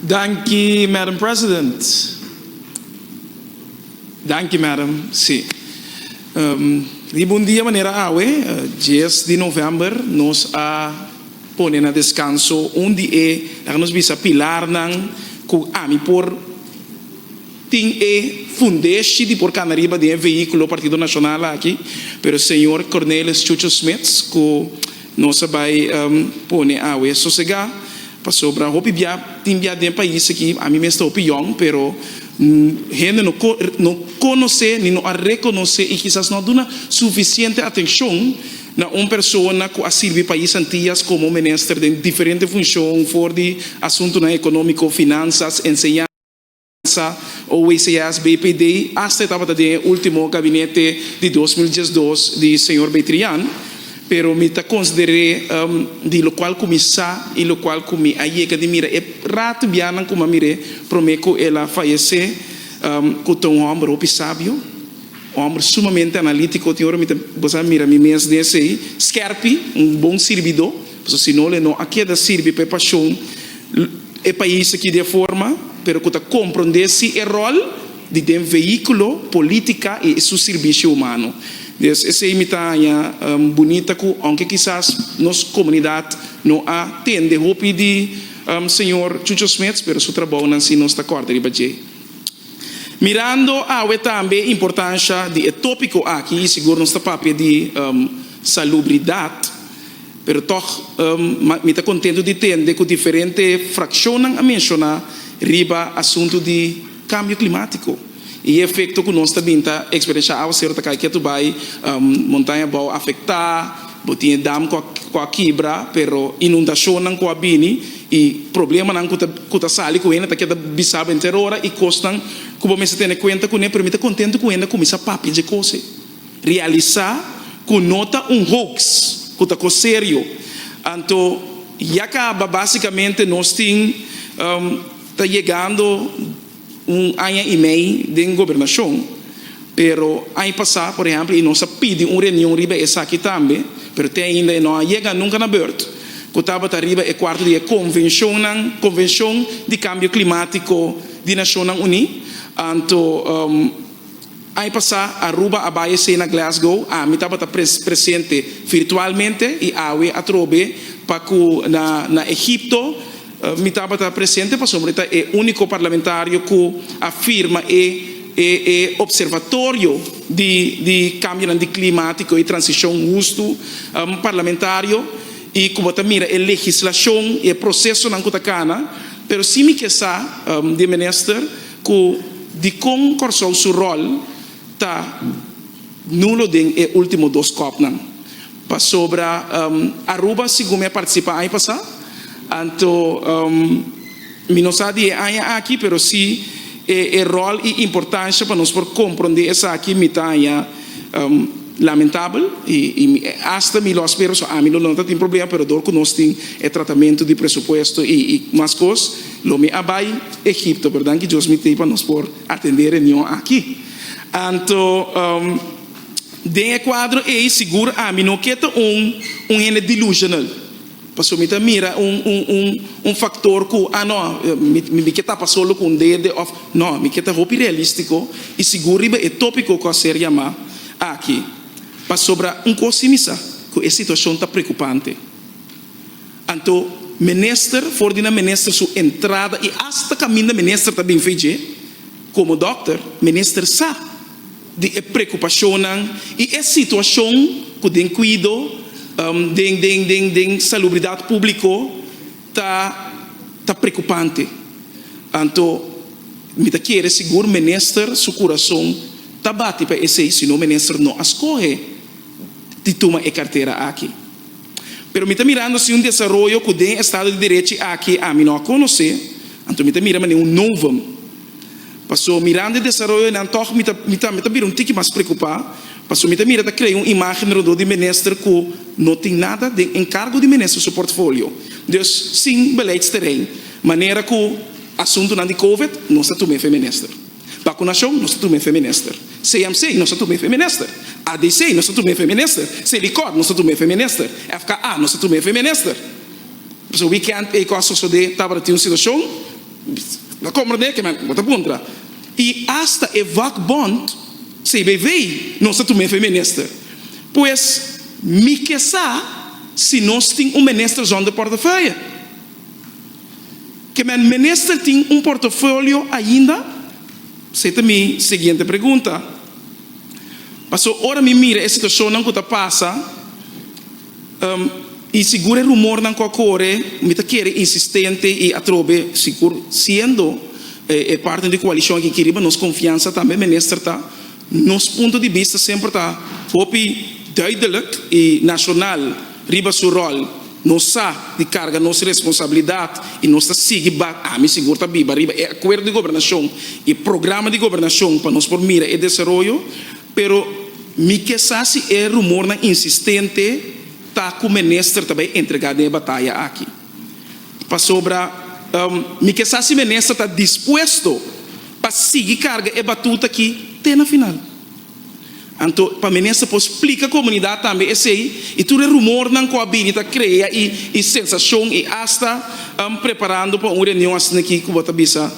Danki Madam President. Danki Madam, si. Riba un dia manera awe, dies di novèmber, nos a pone na deskanso un di e, laga nos bisa, pilarnan ku ami por, Tin e fundeshi di por kana riba di e vehíkulo Partido Nashonal aki, pero señor Cornelis Chucho Smits, ku nos a bai pone awe sosegá, pasobra hopi bia, tin bia den pais aki, ami mes ta hopi yòn, pero hende no no konosé ni no a rekonosé i kisas no a duna sufisiente atenshon na un persona ku a sirbi pais Antias komo minister den diferente funshon, for di asuntunan ekonómiko, finansas, enseñansa. Massa, OWCS, BPD, hasta e tabata den e ultimo gabinete di dos mil diesdos di señor Beitrian, pero mi ta consider'e di locual cu mi sa y locual cu mi a yega di mira e rato bianan cu mi a mir'e prome cu el a fayece, cu ta un homber hopi sabio, homber sumamente analitico, tin ora mi ta bosa mira mi mes den esey, skerpi, un bon sirbido. Pasobra si no, le no a keda sirbi pa e pashon e pais aki di e forma, pero ku ta komprondé si e ròl di den veíkulo, polítika i su sirbishio humano. Dies esei mi ta haña bunita ku ounke kisas nos komunidat no a tende hopi di señor Chucho Smeets, pero su trabounan si nos ta kòrda riba dje. Mirando awe tambe e importansha di e tópiko aki, i sigur nos ta papia di salubridat, pero tòg mi ta kontentu di tende ku diferente frakshonnan a menshoná riba asuntu di kambio klimátiko i e efekto ku nos ta bin ta eksperenshá. Awa seru ta kai ketu bai, montaña bou afektá, bo tin e dam ku a kibra, pero inundashonnan ku a bini, E problemanan cu ta sali cu hende ta kier ta bisaba henter ora y cosnan cu bo mester tene cuenta cun'e, pero mi ta contento cu hende a cuminsa papia dje cos'e, realisa cu no ta un hoax, cu ta cos serio. Anto ya caba basicamente nos tin ta yegando. Un aña i mei den Gobernashon, pero aña pasá, por ehèmpel, e nos a pidi un reunion riba esaki tambe, pero te ainda e no a yega nunka na bèrt, ku tabata riba e kuarto di e konvenshonnan, Konvenshon di Kambio Klimátiko di Nashonnan Uní, anto. Aña pasá Aruba a bai esei na Glasgow, ami tabata presente virtualmente i awe atrobe pa ku na Egipto mi tabata presente pasobra mi ta e úniko parlamentario ku a firma e Observatorio di Kambionan di Klimatiko i Transishon Hustu Parlamentario i ku bo ta mira e legislashon i e prosesonan ku ta kana. Pero si mi ke sa di e minister. Cu dicon Corsou su rol ta nulo den e ultimo dos copnan? Pasobra Aruba sigun mi a participa aña pasa, anto mi no sa di e aña aki, pero si e rol y importancia pa nos por compronde esaki mi ta aña lamentabel y hasta mi lo a spera, so ami lo no ta tin problema, pero dor cu nos tin e tratamento di presupuesto y mas cos. Lo mi a bai Egipto, pero danki Dios mi tei pa nos por atende e reunion aki. Anto den e cuadro ei sigur ami no ke ta un un hende delusional, pasobra mi ta mira un un un un factor cu ah no mi mi mi ke tapa solo cu un dede of no mi ke ta hopi realistico y sigur riba e topico cu a ser yama aki, pasobra un cos si mi sa cu e situacion ta preocupante. Anto minister for di na minister su entrada y hasta caminda minister ta bin fece, como dokter, minister sa di e preocupacionnan y e situacion cu den cuido den den den den salubridad publico ta ta preocupante. Anto mi ta kere sigur minister su curason ta bati pa esey, sino minister no a scoge di tuma e cartera aki. Pero mi ta mirando si un desaroyo ku den estado di derechi aki ami no a konosé, anto mi ta mira manera un novum. Paso mirando e desaroyonan tòg mi ta mi ta mi ta bira un tiki mas preokupá, paso mi ta mira ta krea un imágen rondó di minister ku no tin nada den enkargo di minister su portfolio, dus sin beleidsteren, manera ku asuntunan di covid nos a tum'é fen minister. Bakunashon nos ta tuma effe minister. CMC nos ta tuma effe minister. ADC nos ta tuma effe minister. Selikor nos ta tuma effe minister. FKA nos ta tuma effe minister. Pasobra wikènt ei kos sosodé tabata tin un situashon, lo komprendé ke men bo ta puntra. I asta e vòkbònt CBV nos ta tuma effe minister. Pues mi ke sa si nos tin un minister zonder portefeuille. Ke men mester tin un portofolio ainda? Se ta mi siguiente pregunta. Paso ora mi mira e situacionnan cu ta pasa y sigur e rumornan cu a core, mi ta kere insistente y atrobe, sigur siendo e parten di coalicion aki aki riba, nos confiansa tambe mester ta. Nos punto di bista semper ta hopi duidelijk i nashonal riba su ròl. Nos sa di karga nos responsabilidat i nos ta sigui bat ami sigur ta biba riba e akuerdo di gobernashon i programa di gobernashon pa nos por mira e desaroyo. Pero mi ke sa si e rumornan insistente ta ku minister ta bai entregá den e bataya aki. Pasobra mi ke sa si Minister ta dispuesto pa sigui karga e batuta aki te na final. Anto pa Minister por splika komunidat tambe esei i tur e rumornan ku a bini ta krea i sensashon i asta preparando pa un reunion asina aki ku bo ta bisa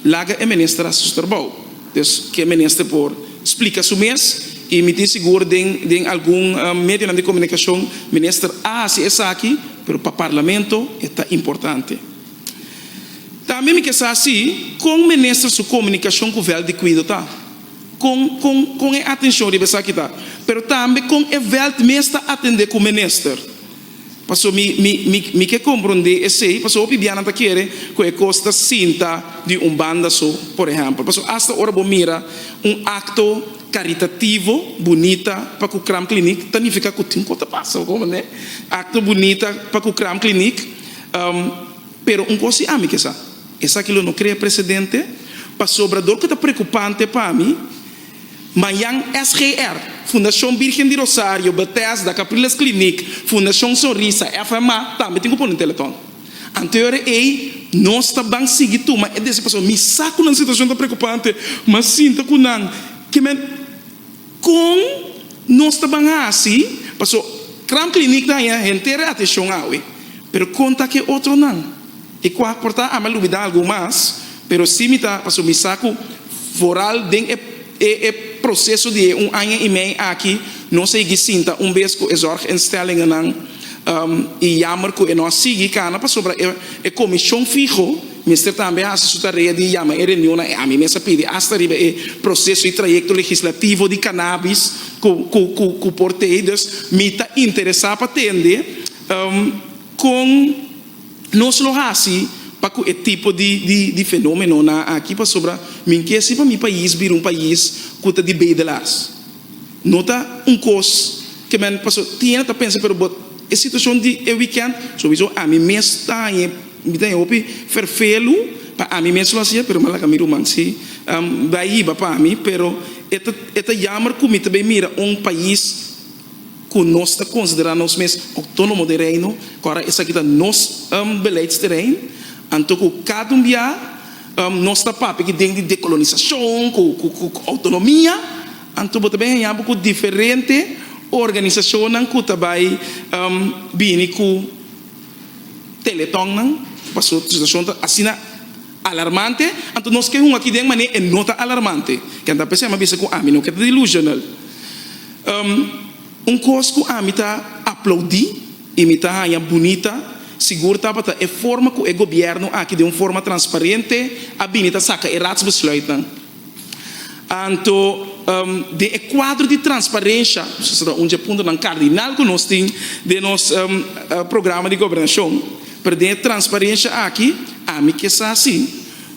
laga e Minister hasi su trabou. Dus ke Minister por splika su mes i mi tin sigur den algun medionan di komunikashon Minister a hasi esaki. Pero pa parlamento e ta importante. Tambe mi ke sa si kon minister su komunikashon ku vèlt di kuido ta. Kon kon kon e atenshon riba esaki ta. Pero tambe kon e vèlt mes ta atendé ku minister. Paso mi mi mi mi ke komprondé esei paso hopi bianan ta kere ku e kos ta sinta di un banda so, por ehèmpel. Paso asta ora bo mira un akto. Karitativo, bunita pa ku Cram Kliniek ta nifiká ku tin ku ta pasa oko manera akto bunita pa ku Cram Kliniek. Pero un kos i ami ke sa, esaki lo no krea presedente pasobra dor ku ta preokupante pa mi mañan SGR, Fundashon Birgen di Rosario, Betesda, Capriles Kliniek, Fundashon Sonrisa, FMA tambe tin ku pone un teletòn. Anterior a ei, nos ta ban sigui tuma e desisi paso. Mi sa ku nan situashon ta preokupante, m'a sinta ku nan kimen kon nos ta ban hasi paso Crown Clinic ta haña henter e atenshon awe. Pero kon ta ku e otronan? E ku a portá ami a lubidá algun mas, pero si mi ta paso mi sa ku foral den e. E e proseso di e un aña i mei aki nos a yeg'i sinta un bes ku e zorginstellingennan i yammer ku e no a sigui kana pasobra e komishon fiho mester tambe hasi su tarea di yama e reunionnan. E ami mes a pidi asta riba e proseso i trayekto legislativo di kanabis ku por tei. Dus mi ta interesa pa tende kon. Nos lo hasi pa cu e tipo di fenomenonan aki pasobra mi kesi pa mi pais bira un pais cu ta di bedelaars. No ta un cos ke men paso tiene ta pensa pero but e situacion di e weekend sowiso ami mes ta hañ'e mi ta hañ'e hopi fervelu pa ami mes lo hacia pero mi a laga mi ruman si bai hiba pa mi pero e ta jammer cu mi ta bay mira un pais ku nos ta konsiderá nos mes ouktónomo den Reino, ku ara esaki ta nos beleidsterein, anto ku kada un bia nos ta papia ki den di dekolonisashon ku ouktonomia, anto bo ta bai haña bo ku diferente organisashonnan ku ta bai bini ku teletònnan, pasobra situashon ta asina. Alarmante? Anto nos ke hunga kiden manera e no ta alarmante. Ken ta p'esei a bisa ku ami no ke ta delusional? Um un kos ku ami ta aplaudí i mi ta haña bunita sigur tabata e forma ku e gobièrnu aki den un forma transparente a bini ta saka e ratsbesluitnan. Anto, den e kuadro di transparensia, su ta un dje puntonan kardinal ku nos tin den nos programa di gobernashon, pero den e transparensia aki ami ke sa si,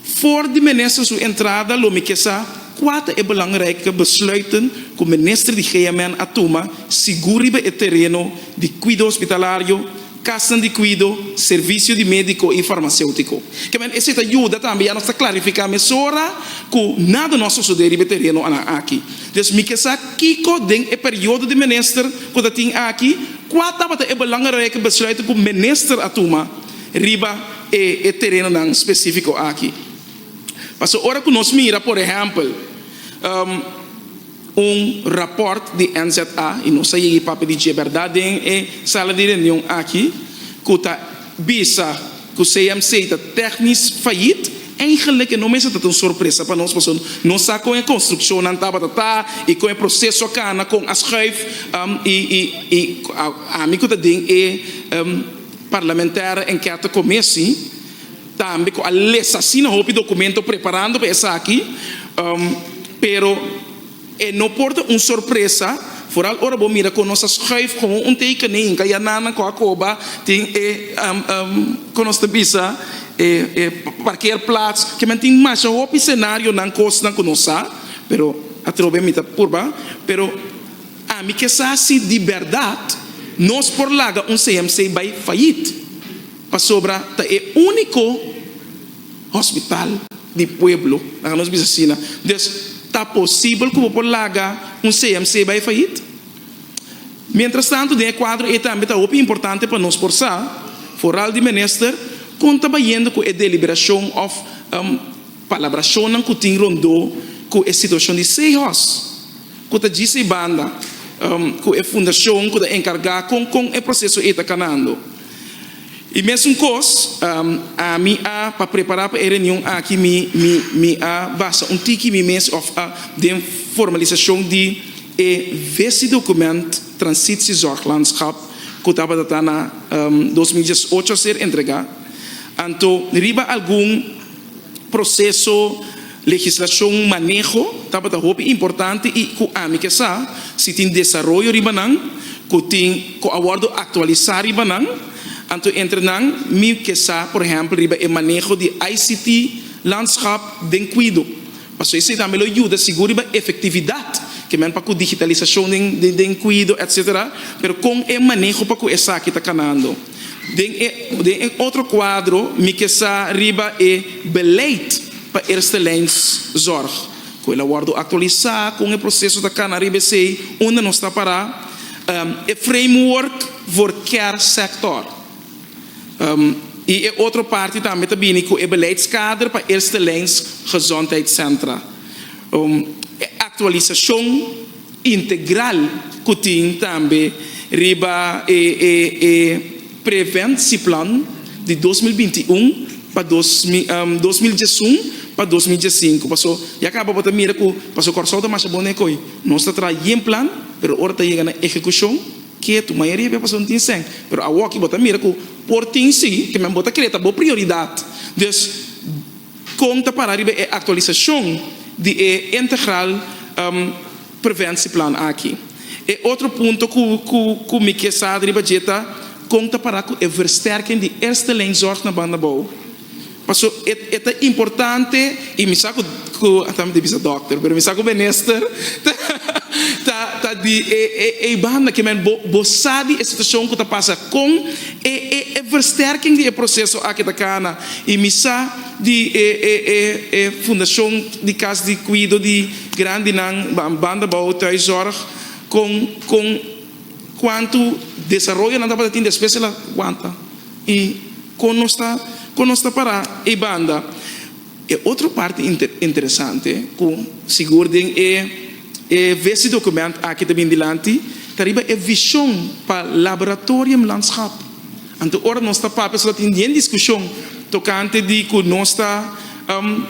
for di minister su entrada lo mi ke sa kua ta e belangrijk besluiten ku minister di GMN a tuma sigur riba e tereno di kuido hospitalario, Kasnan di kuido, servisio di médiko i farmaséutiko. Kèmen esei ta yuda tambe ya nos ta klarifiká mesora ku nada no a sosodé riba e tereno anan aki. Dios mi ke sa kiko den e periodo di minister ku ta tin aki, kua tabata e belangrike besluit ku minister a tuma riba e e terenonan spesífiko aki. Pasobra ora ku nos mira, por ehèmpel, Un raport di NZA y nos a yega y papia di dje berdad den e sala di reunion aki cu ta bisa cu CMC ta tecnisch fayit, eigenlijk e no mester ta ta un sorpresa pa nos pasobra nos sa con e construccionnan tabata ta y con e proceso a cana con a schuif y ami cu ta den e Parlamentaire Enquete Comissie Tambe cu a les asina hopi documento preparando pa esaki, pero e no por ta un sorpresa, vooral ora bo mira cu nos a schuif como un tekening ca ya nan a cu a coba tin e cu nos ta bisa e parkeerplaats, kiman tin masha hopi scenarionan, cosnan cu nos sa, pero atrobe mi ta purba, pero ami ke sa si di berdad nos por laga un CMC bay fayit. Pasobra ta e úniko hospital di pueblo, nan ka nos bisa asina. Des, ta posibel ku bo por laga un CMC bai fayit? Mientrastantu, den e kuadro ei tambe ta hopi importante pa nos por sa, foral di Minister, kon ta bayendo ku e deliberashon òf palabrashonnan ku tin rondó ku e situashon di Seehorst, ku ta djis ei banda ku e fundashon ku ta enkargá kon kon e proseso ei ta kanando. I mesun kos, ami a pa prepará pa e reunion aki mi mi a basa un tiki mi mes òf a den formalisashon di e visidokument Transitie Zorg Landschap ku tabata ta na dos mil diesocho a ser entregá. Anto riba algun. Proseso legislashon maneho tabata hopi importante i ku ami ke sa si tin desaroyo riba nan ku tin ku a wòrdu aktualisá riba nan. Anto entre nan mi ke sa por ehèmpel riba e maneho di ICT landschap den Kwidu pasobra esei tambe lo yuda sigur riba efektividat ke men pa ku digitalisashon den Kwidu etsetera pero kon e maneho pa ku esaki ta kanando. Den e den e otro kuadro mi ke sa riba e beleid pa Eerstelijnszorg, ku el a wòrdu aktualisá kon e proseso ta kana riba esei unda nos ta pará, e framework voor care-sector, i e otro parti tambe ta bini ku e beleidskader pa Eerstelijnzgezondheidscentra, e aktualisashon. integral ku tin tambe riba e e e preventieplan di dos mil binti i un pa dos dos mil diesun pa dos mil diesinku paso ya kaba bo ta mira ku paso Kòrsou ta masha bon den e koi nos ta traha yen plan pero ora ta yega na ehekushon ketu mayoria di e paso no tin sèn pero awor aki bo ta mira ku por tin si ke men bo ta kere ta bo prioridad dus. Kon ta para riba e aktualisashon di e integral preventieplan aki? E otro punto ku mi ke sa riba dje ta kon ta para ku e versterking di Eerste Lijn Zorg na banda bou? Paso e ta importante i mi sa ku ta mi bisa dòkter pero mi sa ku minister ta di ei banda ke men bo sa di e situashon ku ta pasa kon E e e versterking di e proseso aki ta kana y mi sa di e e e e fundacion di cas di cuido di grandinan ban banda bao thuiszorg con con cuanto desaroyo nan tabata tin despues el a wanta y con nos ta con nos ta para e banda. E otro parti interesante cu sigur den e e vezi document aki ta bini dilanti ta riba e vision pa Laboratorium Landschap. Anto ora nos ta papia so ta tin bien discusion tocante di cu nos ta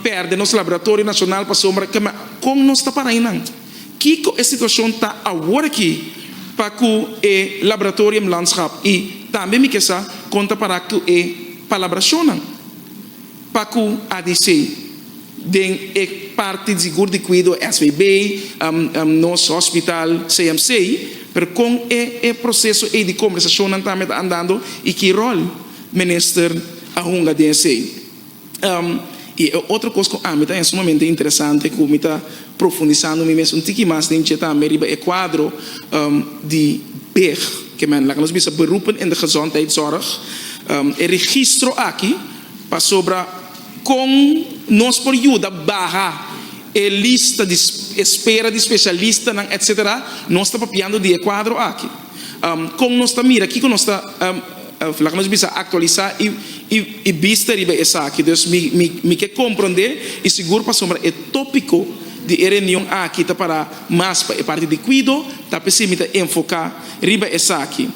perde nos Laboratorio Nacional pasobra ke me con nos ta para ayinan. Kico e situacion ta awor aki pa cu e Laboratorium Landschap y tambe mi ke sa con ta para cu e palabracionnan. Pa cu a di si, den e parti di sigur di cuido SVB, nos hospital, CMC, pero con e e proceso ey di conversacionnan tambe ta andando y ki rol Minister a hunga den esey? Y e otro cos cu ami ta haya sumamente interesante cu mi ta profundisando mi mes un tiki mas den dje tambe riba e cuadro di beg, ke men laga nos bisa beroepen in de gezondheidszorg, e registro aki, Pasobra kon nos por yuda baha e lista di espera di spesialistanan etc. Nos ta papiando di e kuadro aki. Kon nos ta mira? Kiko nos ta, laga nos bisa, aktualisá i bista riba esaki? Dus mi ke komprondé i sigur pasobra e tópiko di e reunion aki ta pará mas pa e parti di kuido, ta p'esei mi ta enfoká riba esaki.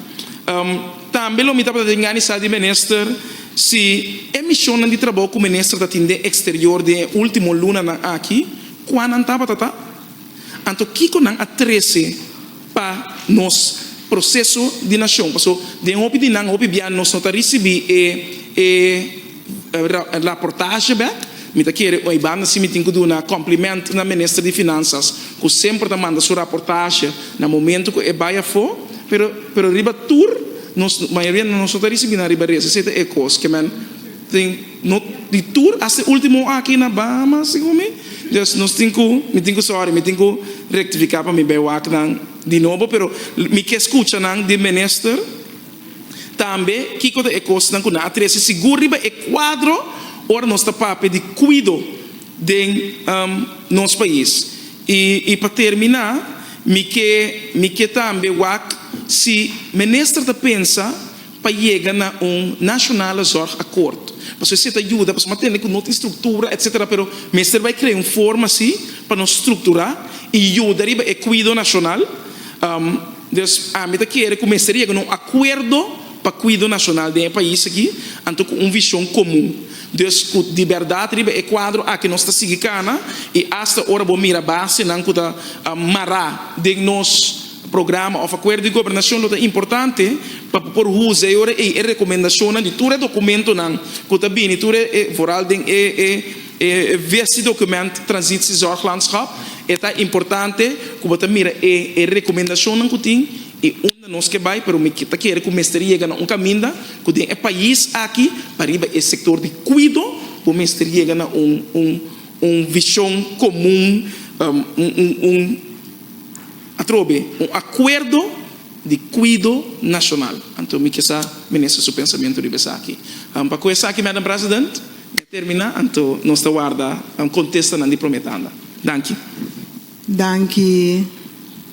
Tambe lo mi tabata den ganisá di minister si e mishonnan di trabou ku minister ta tin den eksterior den e último lunanan aki, kua nan tabata ta? Anto kiko nan a trese pa nos proseso di nashon? Paso den hopi di nan, hopi bia nos no ta risibí e. Raportashi bek, Mi ta kere oi banda si mi tin ku duna komplimento na Minister di Finansas ku semper ta manda su raportashi na momento ku e bai afó, pero pero riba tur nos mayoria di nos no ta risibí nan riba rese, esei ta e kos ke men tin no di tur hasta e último aki na Bahama segun mi, dus nos tin ku mi tin ku sòri mi tin ku rektifiká pa mi bai wak nan di nobo, pero mi ke skucha nan di Minister. Tambe kiko ta e kosnan ku nan a trese sigur riba e kuadro ora nos ta papia di kuido den nos pais? I pa terminá mi ke mi ke tambe wak si minister ta pensa pa yega na un nationale zorg akkoord, pasobra esei ta yuda pasobra nan tende ku no tin struktura etsetera pero mester bai krea un forma si pa nos strukturá i yuda riba e kuido nashonal. Des ami ta kere ku mester yega na un akuerdo pa kuido nashonal den e pais aki, anto ku un vishon komun. Des ku di bèrdat riba e kuadro aki nos ta sigui kana i asta ora bo mira basenan ku ta mará den nos programa òf akuerdo di gobernashon lo ta importante pa bo por usa e ora ei e rekomendashonnan di tur e dokumentonan ku ta bini tur e voral den e E vesti document Transit si Zorglandschap e ta importante cu bo ta mira e e recomendacionnan cu tin y unda nos ke bay pero mi ta kere cu mester yega na un caminda cu den e pais aki pa riba e sector di cuido bo mester yega na un un un vision comun un un un atrobe un acuerdo di cuido nacional anto mi kisa Minister su pensamento riba esaki pa cu esaki Madam President. Ya terminá anto nos ta warda kontestonan di promé tanda. Danki. Danki.